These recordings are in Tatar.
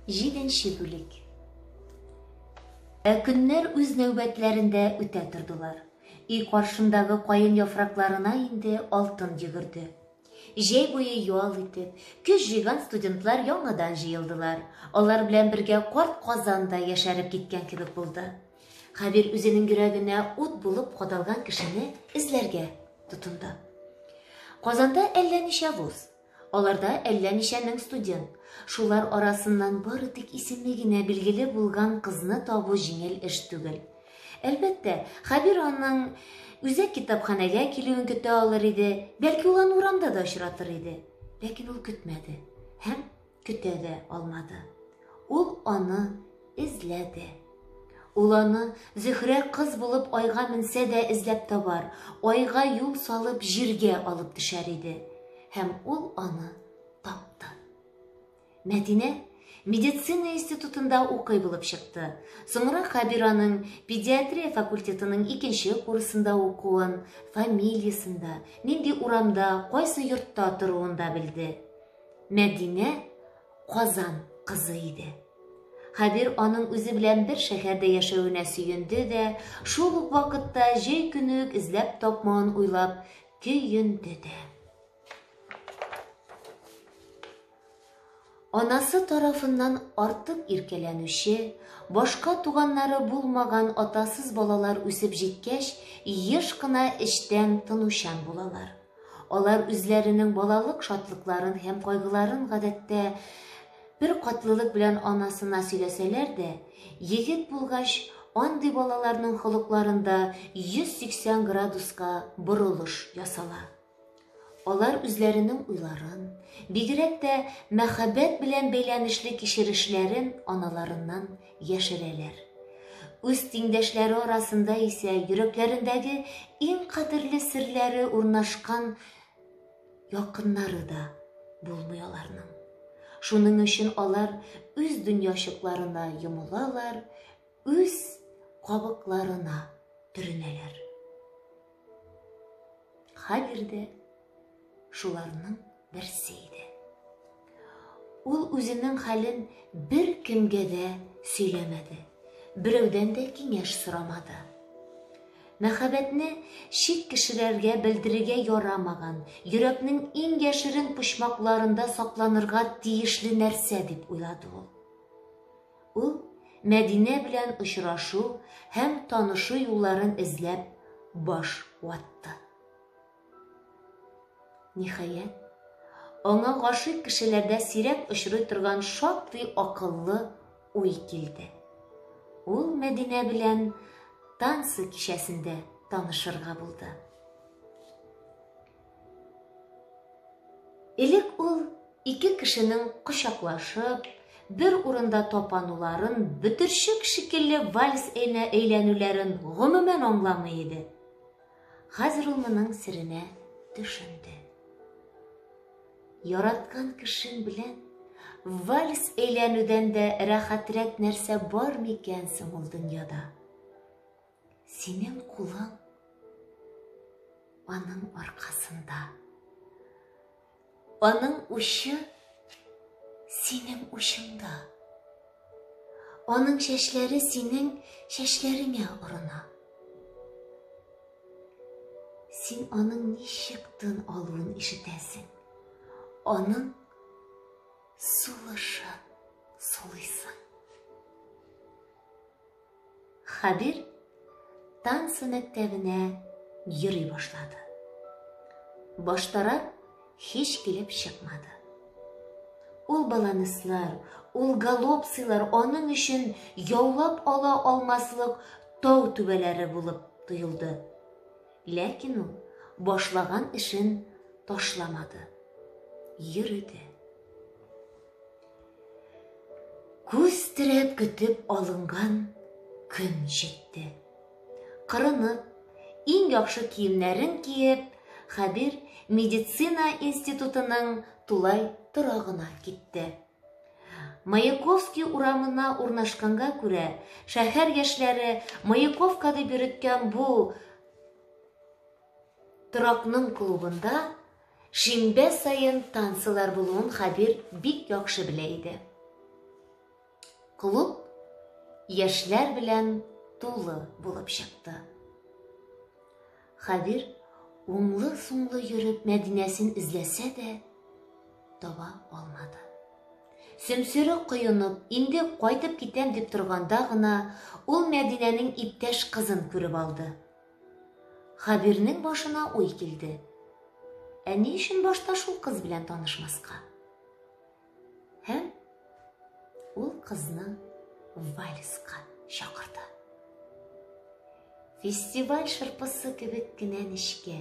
Җиденче бүлек. Ә көннәр үз нәүбәтләрендә үтә тордылар. Өй каршындагы каен яфракларына инде алтын йөгерде. Җәй буе ял итеп, көз җыйган студентлар яңадан җыелдылар. Алар белән бергә карт Казан да яшәреп киткән кебек булды. Хәбир үзенең йөрәгенә ут булып кадалган кешене эзләргә тотынды. Казанда әллә ничә вуз, Аларда әллә ничә мең студент. Шулар арасыннан бары тик исеме генә билгеле булган кызны табу җиңел эш түгел. Әлбәттә, Хәбир аның үзәк китапханәгә килүен көтә алыр иде, бәлки ул аны урамда да очратыр иде. Ләкин ул көтмәде һәм Көтә дә алмады. Ул аны эзләде. Ул аны Зөһрә кыз булып айга менсә дә эзләп табар, айга юл салып җиргә алып төшәр иде. Һәм ул аны тапты. Мәдинә медицина институтында укый булып чыкты. Соңра Хабир аның педиатрия факультетының икенче курсында укуын, фамилиясында, нинди урамда, кайсы йортта торуында белде. Мәдинә Казан кызы иде. Хәбир аның үзе белән бер шәһәрдә яшәвенә сөенде дә, шул ук вакытта җәй көне үк эзләп тапмавын уйлап көенде дә. Анасы тарафыннан артык иркәләнүче, башка туганнары булмаган атасыз балалар үсеп җиткәч, еш кына эчтән тынучан булалар. Алар үзләренең балалык шатлыкларын һәм кайгыларын гадәттә бер катлылык белән анасына сөйләсәләр дә, егет булгач, андый балаларның холыкларында 180 градуска борылыш ясала. Алар үзләренең уйларын, бигрәк тә мәхәббәт белән бәйләнешле кичерешләрен аналарыннан яшерәләр. Үз тиңдәшләре арасында исә йөрәкләрендәге иң кадерле серләре урнашкан якыннары да булмый аларның. Шуның өчен алар үз дөньячыкларына йомылалар, үз кабыкларына төренәләр. Хәбир дә шуларның берсе иде. Ул үзенең хәлен бер кемгә дә сөйләмәде, берәүдән дә киңәш сорамады. Мәхәббәтне чит кешеләргә белдерергә ярамаган, йөрәкнең иң яшерен почмакларында сакланырга тиешле нәрсә дип уйлады ул. Ул, Мәдинә белән очрашу һәм танышу юлларын эзләп, баш ватты. Ниһаять, аңа гашыйк кешеләрдә сирәк очрый торган шактый акыллы уй килде. Ул Мәдинә белән танцы кичәсендә танышырга булды. Элек ул ике кешенең кочаклашып, бер урында тапануларын, бөтерчек шикелле вальс әйнә әйләнүләрен гомумән аңламый иде. Хәзер ул моның серенә төшенде. Яраткан кешең белән вальс әйләнүдән дә рәхәтрәк нәрсә бар микән соң ул дөньяда? Синең кулың аның аркасында. Аның учы синең учыңда. Аның чәчләре синең чәчләреңә орына. Син аның ничек тын алуын ишетәсең. Аның сулышын сулыйсың. Хәбир танцы мәктәбенә йөри башлады. Баштарак һич килеп чыкмады. Ул баланыслар, ул галопсилар аның өчен яулап ала алмаслык тау түбәләре булып тоелды. Ләкин ул башлаган эшен ташламады. Йөрде. Күз терәп көтеп алынган көн җитте. Кырынып, иң яхшы киемнәрен киеп, Хәбир медицина институтының тулай торагына китте. Маяковский урамына урнашканга күрә, шәһәр яшьләре Маяковка дип йөрткән бу торакның клубында Шимбә саен танцылар булуын Хәбир бик яхшы белә иде. Клуб яшьләр белән тулы булып чыкты. Хәбир уңлы-сумлы йөреп Мәдинәсен эзләсә дә, таба алмады. Сөмсүре коенып, инде кайтып китәм дип торганда гына, ул Мәдинәнең иптәш кызын күреп алды. Хәбирнең башына уй килде. Ә ни өчен башта шул кыз белән танышмаска? Һәм ул кызны вальска чакырды. Фестиваль шырпысы кебек кенә нечкә,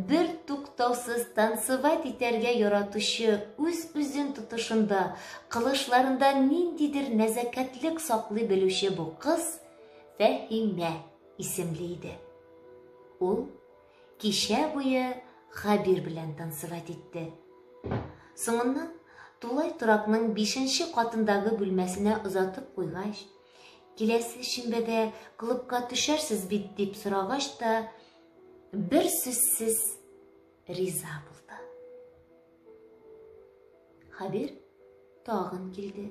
бер туктаусыз танцевать итәргә яратучы үз-үзен тотышында, кылышларында ниндидер нәзәкәтлек саклый белүче бу кыз Фәһимә исемле иде. Ул кичә буе Хабир белән танцевать итте. Соңыннан тулай торакның бишенче катындагы бүлмәсенә озатып куйгач, киләсе шимбәдә клубка төшәрсез бит дип сорагач та, бер сүзсез риза булды. Хабир тагын килде.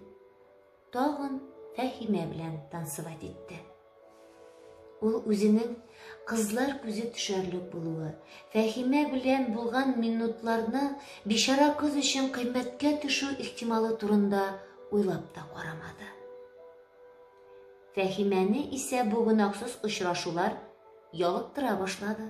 Тагын Фәхимә белән танцевать итте. Ул үзенең кызлар күзе төшәрлек булуы, Фәхимә белән булган минутларны бишара кыз өчен кыйммәткә төшү ихтималы турында уйлап та карамады. Фәхимәне исә бу гөнаһсыз очрашулар ялыктыра башлады.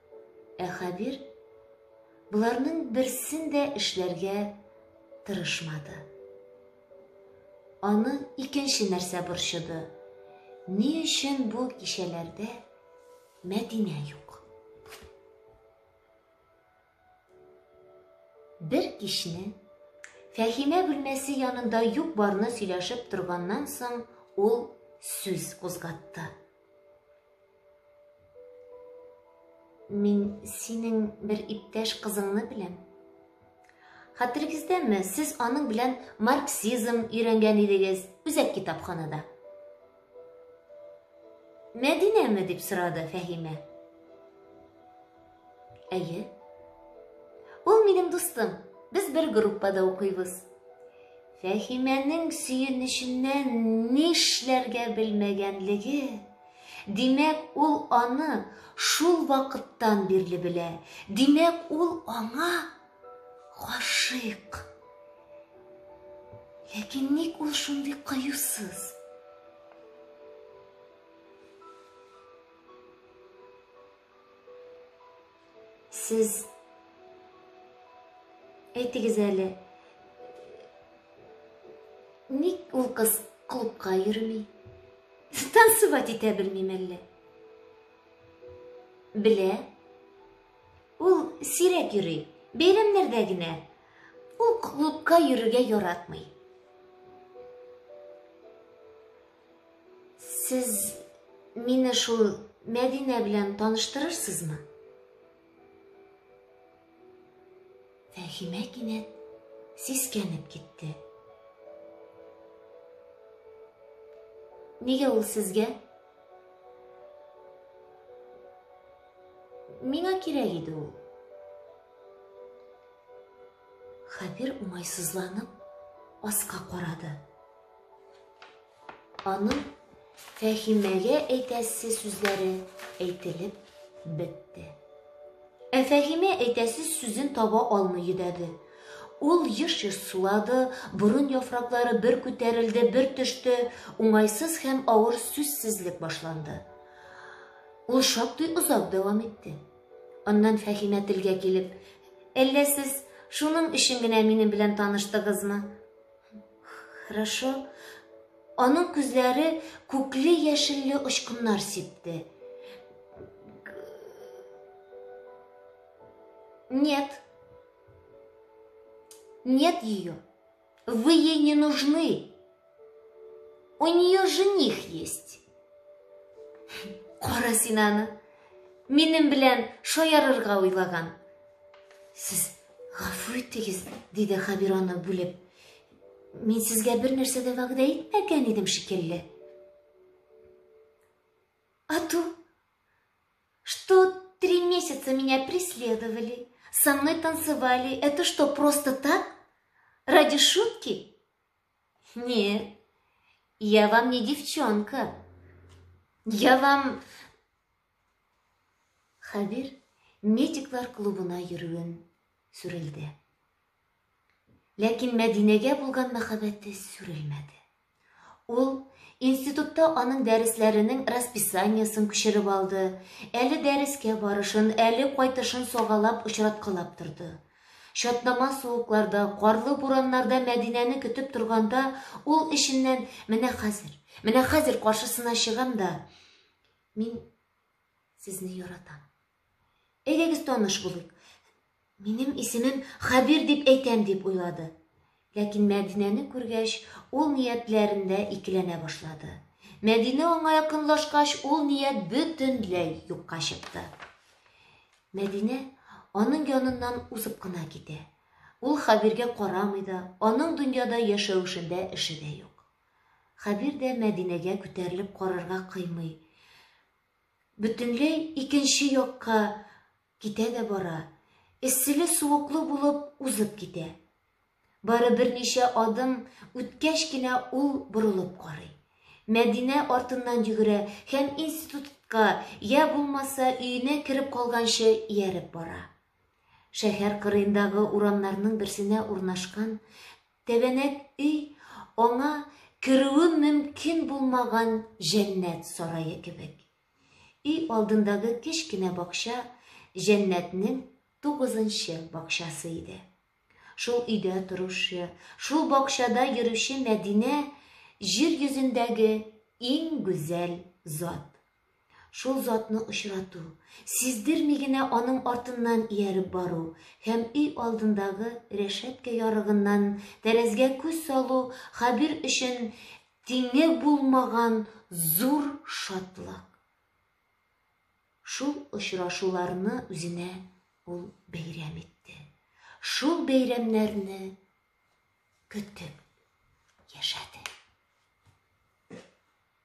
Ә Хәбир боларның берсен дә эшләргә тырышмады. Аны икенче нәрсә борчыды. Ни өчен бу кичәләрдә Мәдинә юк? Бер кичне Фәхимә бүлмәсе янында юк барны сөйләшеп торганнан соң ул сүз кузгатты. Мин синең бер иптәш кызыңны беләм. Хәтерегездәме, сез аның белән марксизм өйрәнгән идегез, үзәк китапханада. Мәдинәме дип сорады Фәһимә. Әйе. Ул минем дустым. Без бер группада укыйбыз. Фәхимәнең сөенеченнән нишләргә белмәгәнлеге, димәк, ул аны шул вакыттан бирле белә. Димәк, ул аңа гашыйк. Ләкин ник ул шундый кыюсыз? Сез әйтегез әле, ник ул кыз клубка йөрми? Танцевать итә белмим әллә? Белә. Ул сирәк йөри, бәйрәмнәрдә генә. Ул клубка йөрергә яратмый. Сез мине шул Мәдинә белән таныштырырсызмы? Фәхимә кинәт сискәнеп китте. Нигә ул сезгә? Миңа кирәк иде ул. Хәбир уңайсызланып аска карады. Аның Фәһимәгә әйтәсе сүзләре әйтелеп бетте. Ә Фәһимә әйтәсе сүзен таба алмый йөдәде. Ул еш-еш сулады, борын яфраклары бер күтәрелде, бер төште, уңайсыз һәм авыр сүзсезлек башланды. Ул шактый озак дәвам итте. Аннан Фәһимә телгә килеп, «Әллә сез шуның өчен генә минем белән таныштыгызмы?» Хорошо. Аның күзләре күкле-яшелле очкыннар сипте. Нет. Нет ее. Вы ей не нужны. У нее жених есть. Кара син аны. Минем белән шаярырга уйлаган. Сез Гафу итегез, диде Хәбир аны бүлеп. Мин сезгә бер нәрсә дә вәгъдә итмәгән идем шикелле. А то, что три месяца меня преследовали, со мной танцевали, это что, просто так? Ради шутки? Нет, я вам не девчонка. Я вам Хәбир медиклар клубына йөрүен сүрелде. Ләкин Мәдинәгә булган мәхәббәте сүрелмәде. Ул Институтта аның дәресләренең расписаниесен күчереп алды. Әле дәрескә барышын, әле кайтышын согалап очраткалап торды. Чатнама суыкларда, карлы бураннарда Мәдинәне көтіп торганда, ул эшеннән менә хәзер, менә хәзер каршысына чыгам да, Мин сезне яратам. Әйдәгез таныш булыйк. Минем исемем Хәбир дип әйтәм дип уйлады. Ләкин Мәдинәне күргәч, ул ниятләрендә икеләнә башлады. Мәдинә аңа якынлашкач, ул ният бөтенләй юкка чыкты. Мәдинә аның яныннан узып кына китә. Ул Хәбиргә карамый да, аның дөньяда яшәвешендә эше дә юк. Хәбир дә Мәдинәгә күтәрелеп карарга кыймый. Бөтенләй икенче якка китә дә бара. Эсселе-суыклы булып узып китә. Бары берничә адым үткәч кенә ул борылып карый. Мәдинә артыннан йөгерә һәм институтка я булмаса өенә кереп калганчы ияреп бара. Шәһәр кырыендагы урамнарның берсенә урнашкан Тәбәнәк өй аңа керүе мөмкин булмаган җәннәт сарае кебек. Өй алдындагы кечкенә бакча җәннәтнең тугызынчы бакчасы иде. Шул өйдә торучы, шул бакчада йөрүче Мәдинә җир йөзендәге иң гүзәл зат. Шул затны очрату, сиздерми генә аның артыннан ияреп бару һәм өй алдындагы рәшәткә ярыгыннан тәрәзгә күз салу Хәбир өчен тиңе булмаган зур шатлык. Шул очрашуларны үзенә ул бәйрәм итте. Шул бәйрәмнәрне көтеп яшәде.